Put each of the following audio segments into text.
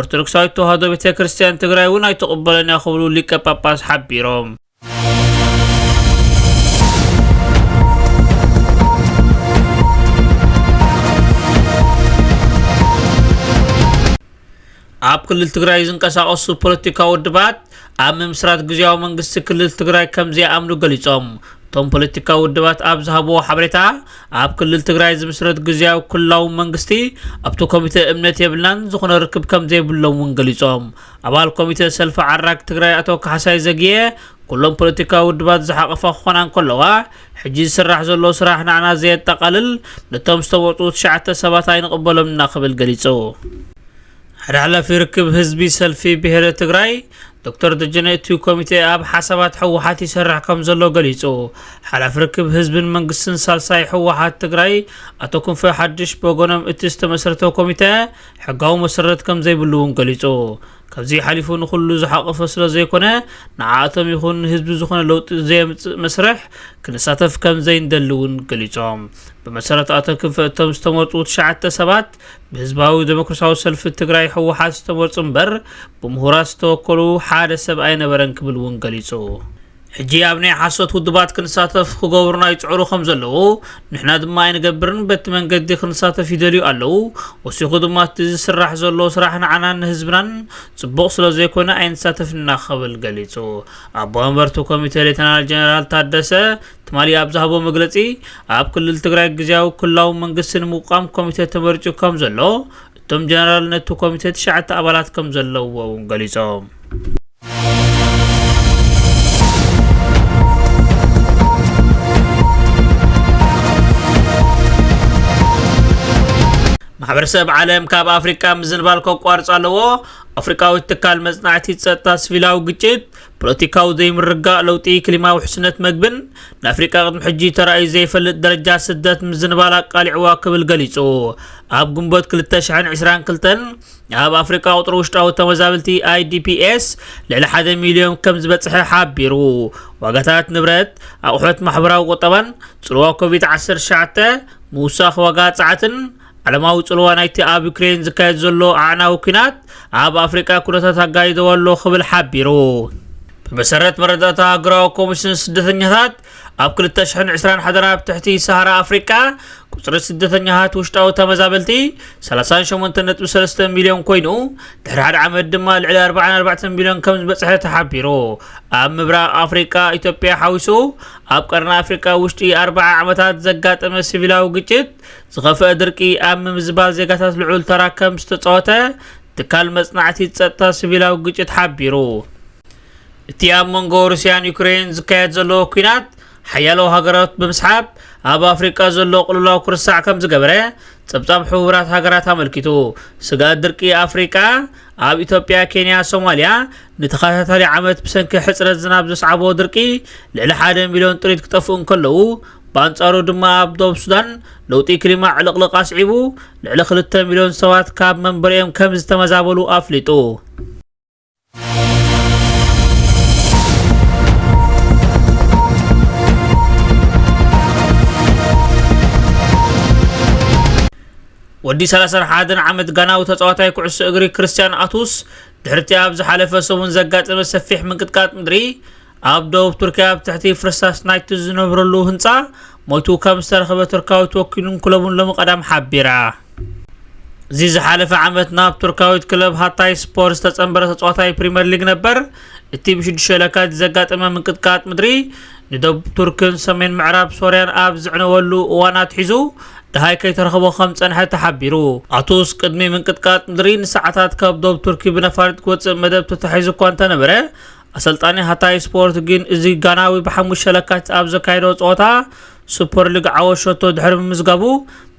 ኦርቶዶክሳዊት ተዋህዶ ቤተ ክርስቲያን ትግራይ እውን ኣይትቕበሎን እያ ክብሉ ሊቀ ጳጳስ ሓቢሮም ኣብ ክልል ትግራይ ዝንቀሳቐሱ ፖለቲካዊ ውድባት ኣብ ምምስራት ግዝያዊ መንግስቲ ክልል ትግራይ ከምዘይኣምኑ ገሊፆም። እቶም ፖለቲካዊ ውድባት ኣብ ዝሃብዎ ሓበሬታ፣ ኣብ ክልል ትግራይ ዝምስረት ግዝያዊ ክልላዊ መንግስቲ ኣብቲ ኮሚተ እምነት የብልናን፣ ዝኾነ ርክብ ከምዘይብሎም እውን ገሊፆም። ኣባል ኮሚተ ሰልፊ ዓራግ ትግራይ ኣቶ ካሕሳይ ዘጊየ፣ ኩሎም ፖለቲካዊ ውድባት ዝሓቘፋ ክኾና እንከለዋ፣ ሕጂ ዝስራሕ ዘሎ ስራሕ ንዓና ዘየጠቓልል፣ ነቶም ዝተመርፁ ትሽዓተ ሰባት ኣይንቕበሎምን'ና ክብል ገሊፁ። ሓደ ሓላፊ ርክብ ህዝቢ ሰልፊ ብሄረ ትግራይ ዶክተር ደጀነ እቲ ኮሚቴ ኣብ ሓሳባት ህወሓት ይሰርሕ ከም ዘሎ ገሊጹ። ሓላፊ ርክብ ህዝብን መንግስትን ሳልሳይ ህወሓት ትግራይ ኣቶ ክንፈ ሓድሽ ብወገኖም እቲ ዝተመስረተ ኮሚተ ሕጋዊ መሰረት ከም ዘይብሉ እውን ገሊጹ። ካብዚ ሓሊፉ ንኹሉ ዝሓቆፈ ስለ ዘይኮነ ንዓኣቶም ይኹን ንህዝቢ ዝኾነ ለውጢ ዘየምጽእ መስርሕ ክንሳተፍ ከም ዘይንደሊ እውን ገሊጾም። ብመሰረት ኣቶ ክንፈ እቶም ዝተመርጹ ትሽዓተ ሰባት ብህዝባዊ ደሞክርሳዊ ሰልፊ ትግራይ ህወሓት ዝተመርጹ እምበር ብምሁራት ዝተወከሉ ሓደ ሰብ ኣይነበረን ክብል እውን ገሊጹ። ሕጂ ኣብ ናይ ሓሶት ውድባት ክንሳተፍ ክገብሩና ይጽዕሩ ከም ዘለዉ ንሕና ድማ ኣይንገብርን በቲ መንገዲ ክንሳተፍ ይደልዩ ኣለዉ ወሲኹ ድማ እቲ ዝስራሕ ዘሎ ስራሕ ንዓናን ንህዝብናን ጽቡቕ ስለ ዘይኮነ ኣይንሳተፍና ክብል ገሊጹ ኣቦ መንበርቲ ኮሚቴ ሌተናል ጀነራል ታደሰ ትማሊ ኣብ ዝሃቦ መግለፂ ኣብ ክልል ትግራይ ግዝያዊ ክልላዊ መንግስቲ ንምቋም ኮሚቴ ተመሪፁ ከም ዘሎ እቶም ጀነራል ነቲ ኮሚቴ ትሽዓተ ኣባላት ከም ዘለውዎ እውን ገሊፆም። ማሕበረሰብ ዓለም ካብ ኣፍሪቃ ምዝንባል ከቋርፅ ኣለዎ ኣፍሪቃዊት ትካል መፅናዕቲ ፀጥታ ስቪላዊ ግጭት ፖለቲካዊ ዘይምርግጋእ፣ ለውጢ ክሊማ፣ ውሕስነት መግብን ንኣፍሪቃ ቅድሚ ሕጂ ተራእዩ ዘይፈልጥ ደረጃ ስደት ምዝንባል ኣቃሊዕዋ ክብል ገሊጹ። ኣብ ግንቦት ክልተ ሽሕን ዕስራን ክልተን ኣብ ኣፍሪቃ ቁጽሪ ውሽጣዊ ተመዛበልቲ፣ IDPs፣ ልዕሊ ሓደ ሚልዮን ከም ዝበጽሐ ሓቢሩ። ዋጋታት ንብረት፣ ኣቑሑት ማሕበራዊ ቁጠባን ጽልዋ ኮቪት ዓሰርተ ትሽዓተ፣ ምውሳኽ ዋጋ ጸዓትን፣ ዓለማዊ ጽልዋ ናይቲ ኣብ ዩክሬን ዝካየድ ዘሎ ኣዕናዊ ኲናት ኣብ ኣፍሪቃ ኩነታት ኣጋይደዎ ኣሎ ክብል ሓቢሩ። ብመሰረት መረዳእታ ሃገራዊ ኮሚሽን ስደተኛታት ኣብ 2020 ሓደራ ኣብ ትሕቲ ሰሃራ ኣፍሪቃ ቁፅሪ ስደተኛታት ውሽጣዊ ተመዛበልቲ 38.3 ሚልዮን ኮይኑ ድሕሪ ሓደ ዓመት ድማ ልዕሊ 44 ሚልዮን ከም ዝበፅሐ ተሓቢሩ ኣብ ምብራቕ ኣፍሪቃ ኢትዮጵያ ሓዊሱ ኣብ ቀርኒ ኣፍሪቃ ውሽጢ 40 ዓመታት ዘጋጠመ ሲቪላዊ ግጭት ዝኸፍአ ድርቂ ኣብ ምምዝባል ዜጋታት ልዑል ተራ ከም ዝተጻወተ ትካል መጽናዕቲ ጸጥታ ሲቪላዊ ግጭት ሓቢሩ። እቲ ኣብ መንጎ ሩስያን ዩክሬን ዝካየድ ዘሎ ኲናት ሓያሎ ሃገራት ብምስሓብ ኣብ ኣፍሪቃ ዘሎ ቅልውላው ክርሳዕ ከም ዝገበረ ጸብጻብ ሕቡራት ሃገራት ኣመልኪቱ። ስግኣት ድርቂ ኣፍሪቃ ኣብ ኢትዮጵያ፣ ኬንያ፣ ሶማልያ ንተኸታታሊ ዓመት ብሰንኪ ሕጽረት ዝናብ ዘስዓቦ ድርቂ ልዕሊ ሓደ ሚልዮን ጥሪት ክጠፍኡ እንከለዉ ብኣንጻሩ ድማ ኣብ ዶብ ሱዳን ለውጢ ክሊማ ዕልቕልቕ ኣስዒቡ፣ ልዕሊ ክልተ ሚልዮን ሰባት ካብ መንበሪኦም ከም ዝተመዛበሉ ኣፍሊጡ። ወዲ 31 ዓመት ጋናዊ ተጻዋታይ ኩዕሶ እግሪ ክርስትያን ኣቱስ ድሕርቲ ኣብ ዝሓለፈ ሰሙን ዘጋጠመ ሰፊሕ ምንቅጥቃጥ ምድሪ ኣብ ደቡብ ቱርኪ ኣብ ትሕቲ ፍርስራስ ናይቲ ዝነብረሉ ህንጻ ሞይቱ ከም ዝተረኽበ ቱርካዊት ወኪሉን ክለቡን ሎሚ ቀዳም ሓቢራ። እዚ ዝሓለፈ ዓመት ናብ ቱርካዊት ክለብ ሃታይ ስፖር ዝተጸንበረ ተጻዋታይ ፕሪምየር ሊግ ነበር እቲ ብሽዱሽተ ለካቲት ዘጋጠመ ምንቅጥቃጥ ምድሪ ንደቡብ ቱርክን ሰሜን ምዕራብ ሶርያን ኣብ ዝዕነወሉ እዋን ኣትሒዙ ድሃይ ከይተረኽቦ ከም ጸንሐ ተሓቢሩ ኣቱስ ቅድሚ ምንቅጥቃጥ ምድሪ ንሰዓታት ካብ ደቡብ ቱርኪ ብነፋሪት ክወጽእ መደብ ተታሒዙ እኳ እንተነበረ ኣሰልጣኒ ሃታይ ስፖርት ግን እዚ ጋናዊ ብሓሙሽተ ለካቲት ኣብ ዘካየዶ ጸወታ ሱፐር ሊግ ዓወት ሸቶ ድሕሪ ምምዝጋቡ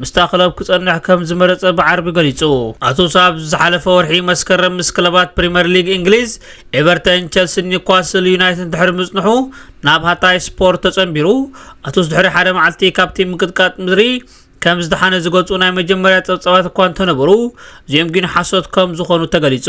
ምስታ ክለብ ክጸንሕ ከም ዝመረጸ ብዓርቢ ገሊጹ። ኣቱስ ኣብ ዝሓለፈ ወርሒ መስከረም ምስ ክለባት ፕሪምየር ሊግ እንግሊዝ ኤቨርተን፣ ቸልሲን ኒውካስል ዩናይትድን ድሕሪ ምጽንሑ ናብ ሃታይ ስፖርት ተጸንቢሩ። ኣቱስ ድሕሪ ሓደ መዓልቲ ካብቲ ምንቅጥቃጥ ምድሪ ከም ዝደሓነ ዝገልጹ ናይ መጀመርያ ጸብጻባት እኳ እንተነበሩ፣ እዚኦም ግን ሓሶት ከም ዝኾኑ ተገሊጹ።